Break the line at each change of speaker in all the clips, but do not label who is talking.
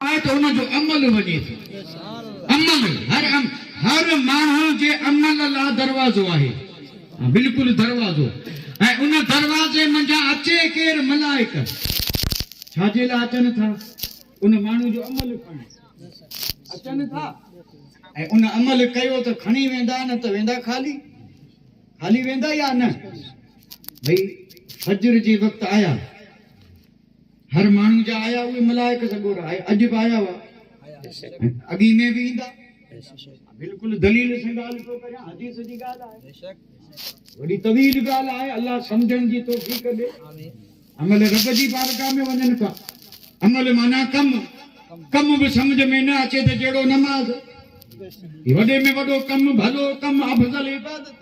آهي ته ان جو عمل وڃي ٿو. عمل، هر عم، هر ماڻهو جي عمل لا دروازو آهي. ها بلڪل دروازو. ۽ ان دروازي منجهان اچي ڪير ملائڪ ڇا جي لا اچن ٿا؟ ان ماڻهو جو عمل کڻڻ اچن ٿا ۽ ان عمل ڪيو ته کڻي ويندا نه ته ويندا خالي. خالي ويندا يا نه؟ ڀئي فجر جي وقت آيا. هر ماڻهو جا آيا اهي ملائڪ سڳورا آهي اڄ به آيا هئا ۽ اڳي ۾ به ايندا بلڪل دليل سان ڳالهه ٿو ڪريان حديث جي ڳالهه آهي وڏي طويل ڳالهه آهي الله سمجھڻ جي توفيق ڏي عمل رب جي بارگاهه ۾ وڃن ٿا عمل معنی ڪم ڪم به سمجھ ۾ نه اچي ته جهڙو نماز هي وڏي ۾ وڏو ڪم ڀلو ڪم افضل عبادت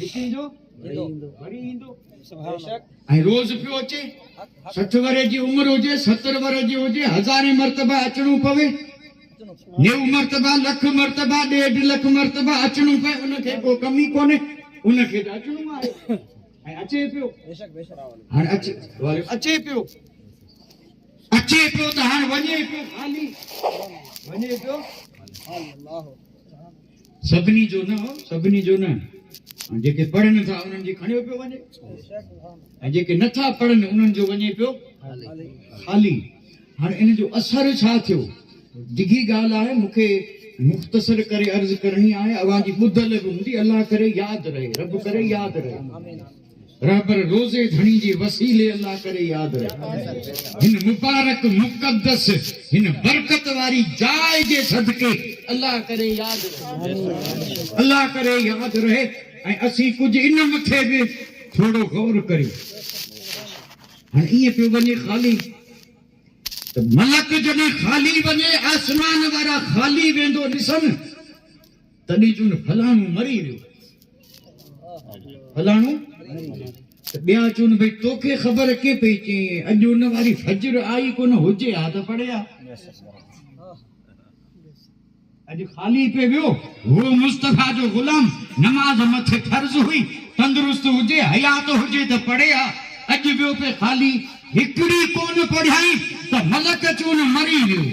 وڪيندو وري ايندو ۽ روز پيو اچي سٺ ورهين جي عمر هجي ستر ورهين جي هجي هزارين مرتبا اچڻو پوي نيو مرتبا لک مرتبا ڏيڍ لک مرتبا اچڻو پوي ان کي ڪو ڪمي ڪونهي ان کي ته اچڻو آهي ۽ اچي پيو هاڻي اچي اچي پيو اچي پيو ته هاڻي وڃي پيو خالي وڃي پيو سڀني جو نه هو سڀني جو نه ۽ جيڪي پڙهن ٿا انهن جي کڻيو پيو وڃي ۽ جيڪي نٿا پڙهن انهن جو وڃي پيو خالي هاڻي ان جو اثر ڇا ٿيو ڊگهي ڳالهه آهي مون کي مختصر ڪري عرض ڪرڻي آهي اوهان جي ٻڌل به هوندي الله ڪري ياد رهي رب ڪري ياد رهي رهبر روزي ڌڻي جي وسيلي الله ڪري ياد رهي هن مبارڪ مقدس هن برڪت واري جاء جي صدقي الله ڪري ياد رهي الله ڪري ياد رهي ۽ اسين ڪجهه ان مٿي به ٿورو غور ڪريون هن ايئن پيو وڃي خالي ملڪ جڏهن خالي وڃي آسمان وارا خالي ويندو ڏسن تڏهن چون فلاڻو مري ريو فلاڻو ته ٻيا چون ڀئي توکي خبر ڪي پئي چئين اڄ ان واري فجر آئي ڪونه هجي ها ته پڙي ها اڄ خالي پي ويو هو مصطفيٰ جو غلام نماز مٿي فرض هئي تندرست هجي حيات هجي ته پڙي ها اڄ ويو پي خالي هڪڙي ڪونه پڙهيائين ته ملڪ چون مري ويو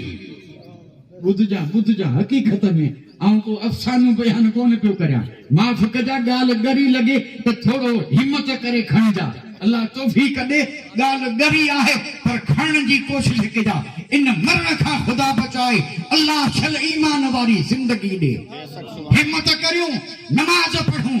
ٻڌجان ٻڌجان حقيقت ۾ آئون ڪو افسانو بيان ڪونه پيو ڪريان معاف ڪجان ڳالهه ڳري لڳي ته ٿورو همت ڪري کڻجان الله توفيق ڏي ڳالهه ڳري آهي پر کڻڻ جي ڪوشش ڪجان ان مرڻ کان خدا بچائي الله شل ايمان واري زندگي ڏي همت ڪريون نماز پڙهون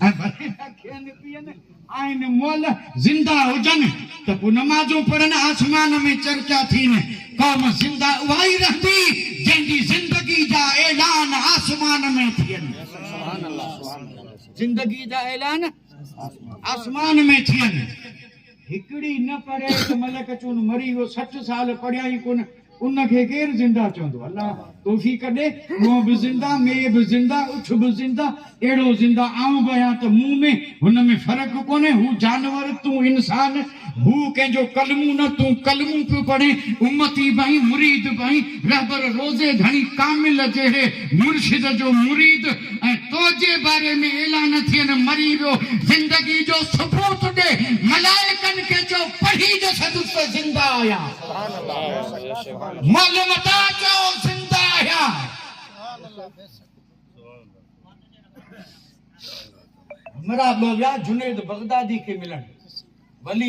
اکين پين آهن مئل زنده هجن ته پوء نمازون پڙهن آسمان ۾ چرچا ٿين قوم زنده اها ئي رهندي جنهن جي زندگي جا اعلان آسمان ۾ ٿين زندگي جا اعلان آسمان ۾ ٿين هڪڙي نه پڙهي ته ملڪ چون مري ويو سٺ سال پڙهيائين ڪونه ان کي ڪير زنده چوندو؟ الله توفيق ڏي. هونء به زنده، مي به زنده، اٺ به زنده، اهڙو زنده آئون به آهيان ته مون ۾ هن ۾ فرق ڪونهي. هو جانور، تون انسان. هو ڪنهن جو ڪلمون نه، تون ڪلمون پيو پڙهين، امتي به آهين، مريد به آهين، رهبر، روضي ڌڻي، ڪامل جهڙي مرشد جو مريد ۽ تنهنجي باري ۾ اعلان ٿين مري ويو، زندگي جو ثبوت ڏي، ملائڪن کي چئو پڙهي ڏسندس ته زنده آهيان. معلوم ادا چئو زنده آهيان
مراد لويا جنيد بغدادي کي ملڻ ولي